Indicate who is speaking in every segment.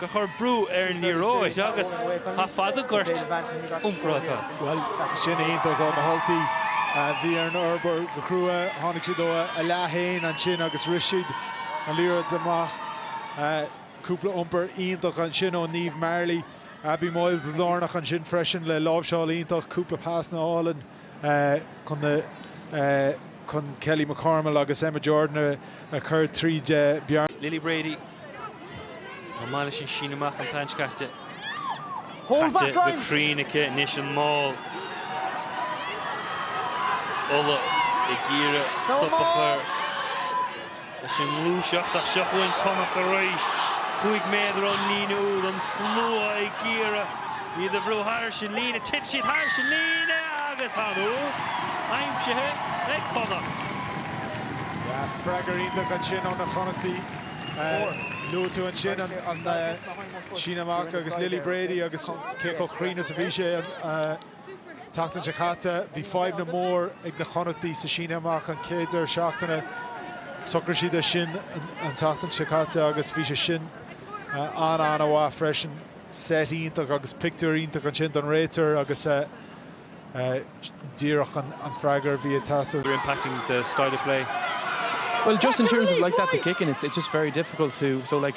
Speaker 1: gur chuir brú ar an liathróid agus tá fadhb á gcur iompair acu. Bhuel, sin iontach ó na hUltaigh. Bhí ar orthu obair go crua, tháinig siad óna leath fhéin ansin agus rith siad an liathróid amach. Cúpla iompar iontach ansin ó Niamh Marley, Abby Moyles lárnach ansin freisin le láimhseáil iontach, cúpla pasanna álainn. chun na. chun Kelly McCormill agus Emma Jordan a chur tríd bearna. Lily Brady. Chomh maith leis an síneadh amach atá sé caite. Caite go cruinn aici anois an mál. Ulaidh ag iarraidh stop a chur. Leis an ngluaiseacht, ach seo chugainn Connacht arís. Cúig méadar ón líne úid, an slua ag iarraidh iad a bhrú thairis an líne. Thit siad thairis an líne agus tá an úd aimsithe ag Connacht. Freagra iontach ansin ó na Connachtaigh. Luaigh tú ansin an síneadh amach agus Lily Brady agus cé chomh cruinn is a bhí sí. tseachtain seo caite, bhí fadhbanna mór ag na Connachtaigh sa síneadh amach an chéad deireadh seachtaine. Shocraigh siad é sin an tseachtain seo caite agus bhí sé sin an-an-mhaith freisin. Seit iontach agus pictiúr iontach ansin don réiteoir agus díreach an freagra a bhí ag teastáil. You're impacting the style of play. Well just in terms of like that the kicking it's it's just very difficult to so like.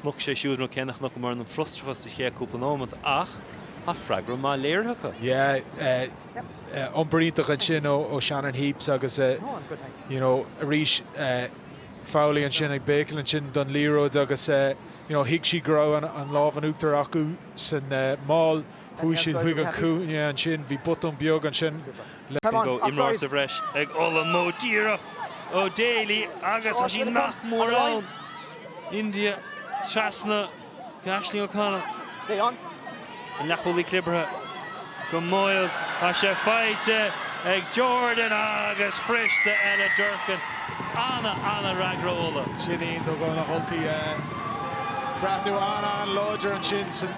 Speaker 1: Chonaic sé siúd rud céanna a chonaic muidne an frustrachas sa chéad cúpla nóiméad ach tá freagra maith léirithe acu. Yeah, iompar iontach ansin ó Shannon Heapes agus you know arís Fowley ansin ag béicil ansin don liathróid agus you know thuig sí go raibh an lámh in uachtar acu san mál. Chuaigh siad chuig an chúinne ansin. Bhí botún beag ansin le. Bhí dhá imreoir sa bhreis ag Uladh, maith díreach ó Daly agus tá sí nach mór ann. India trasna go Aisling O'Connell. An leathchúlaí clibirthe go Moyles tá sé faighte ag Jordan agus briseadh eile Durcan. An-, an- fhreagra Uladh. Sin é an t-úd do na hUltaigh. Breathnú an-an-láidir ansin san.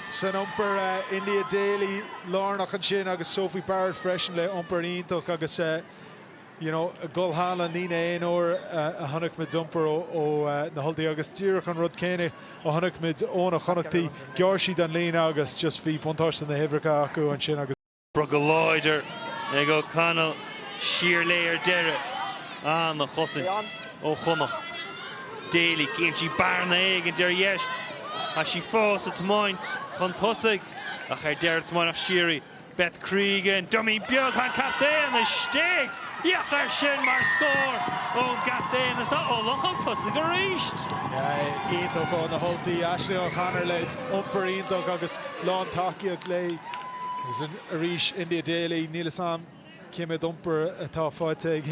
Speaker 1: san iompar. India Daly lárnach ansin agus Sophie Barrett freisin le hiompar iontach agus you know ag dul thar an líne aon uair a chonaic muid iompar ó na hUltaigh agus díreach an rud céanna a chonaic muid ó na Connachtaigh, ghearr siad an líne agus just bhí buntáiste na huimhreacha acu ansin agus. Rith go láidir ag O'Connell siar léi ar deireadh. Ana-chosaint ó Chonnacht. Daley, cíonn sí bearna éigin ar dheis. Tá sí fós ag tiomáint chun tosaigh ach ar deireadh tiomáineadh siar í, Beth Cregan. Dummy beag an captaen istigh! Féach air sin mar scór ón gcaptaen is Ulaidh chun tosaigh arís. Iontach ó na hUltaigh, Aisling O'Connell le iompar iontach agus lán tacaíocht léi. Agus arís, India Daley, níl fhios a'm cé mhéad iompar atá faighte ag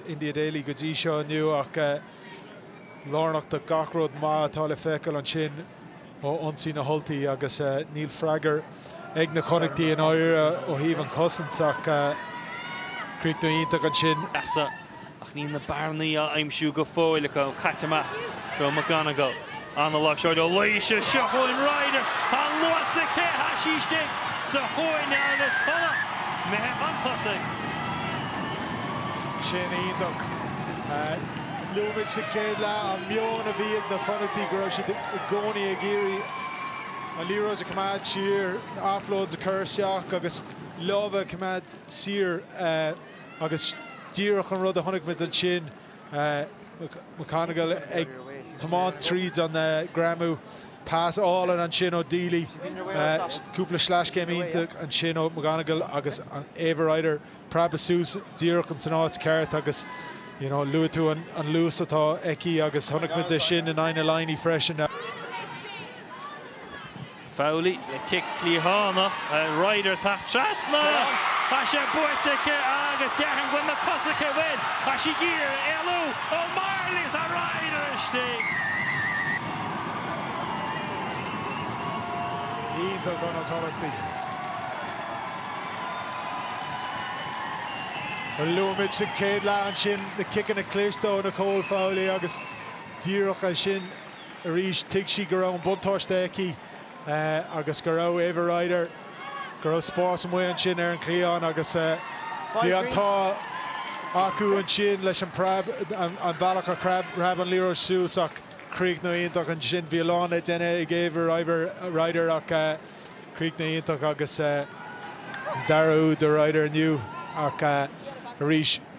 Speaker 1: India Daley go dtí seo inniu ach lárnach do gach rud maith atá le feiceáil ansin ó ionsaí na hUltaigh agus níl freagair ag na Connachtaigh i ndáiríre ó thaobh an chosaint ach críoch iontach ansin. ach níl na bearnaí á aimsiú go fóill acu. Caite amach do McGonagle. An-láimhseáil ó Laoise. Seo chugainn Ryder an luas aici. Tá sí istigh sa chúinne agus Connacht imithe chun tosaigh. Sin iontach. Luaigh muid sa chéad leath an meon a bhí ag na Connachtaigh, go raibh siad i gcónaí ag iarraidh an liathróid a choimeád siar, offloads a chur isteach agus lámha a choimeád saor. Agus díreach an rud a chonaic muid ansin, McGonagle ag tiomáint tríd an greamú, pas álainn ansin ó Deely, cúpla sleaschéim iontach ansin ó McGonagle agus Ava Ryder preabadh suas díreach ins an áit cheart agus luaigh tú an luas atá aici agus chonaic muid é sin in aghaidh na Laighnigh freisin. Fowley le cic cliathánach, tá Ryder tagtha trasna, tá sé buaite aici agus déarfainn go bhfuil na cosa aici an bhfuil, tá sí ag iarraidh éalú ó Marley agus tá Ryder istigh. Iontach ó na Connachtaigh. Luaigh muid sa chéad leath ansin na ciceanna cliste ó Nicole Fowley agus díreach ansin, arís, thuig sí go raibh an buntáiste aici agus go raibh Ava Ryder, go raibh spás amuigh ansin ar an gcliathán agus bhí an t-ádh acu ansin leis an preab, an bhealach a phreab an liathróid suas ach críochnú iontach ansin. Bhí a lán le déanamh ag Ava Ryder ach críochnú iontach agus an dara úd do Ryder inniu ach arís.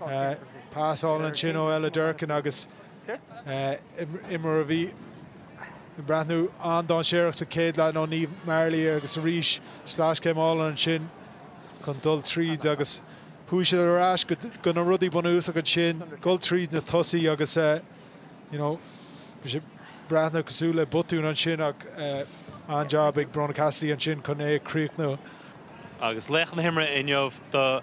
Speaker 1: Pasáil ansin ó Ella Durkin agus imreoir a bhí ag breathnú an-dáinséireach sa chéad leath ó Niamh Marley agus arís sleaschéim álainn ansin chun dul tríd agus chuaigh siad ar ais go na rudaí bunúsacha ansin, dhul tríd na tosaí agus you know bhí sé ag breathnú cosúil le botún ansin ach an-jab ag Brónagh Cassidy ansin chun é a chríochnú. Agus laoch na himeartha inniu dó.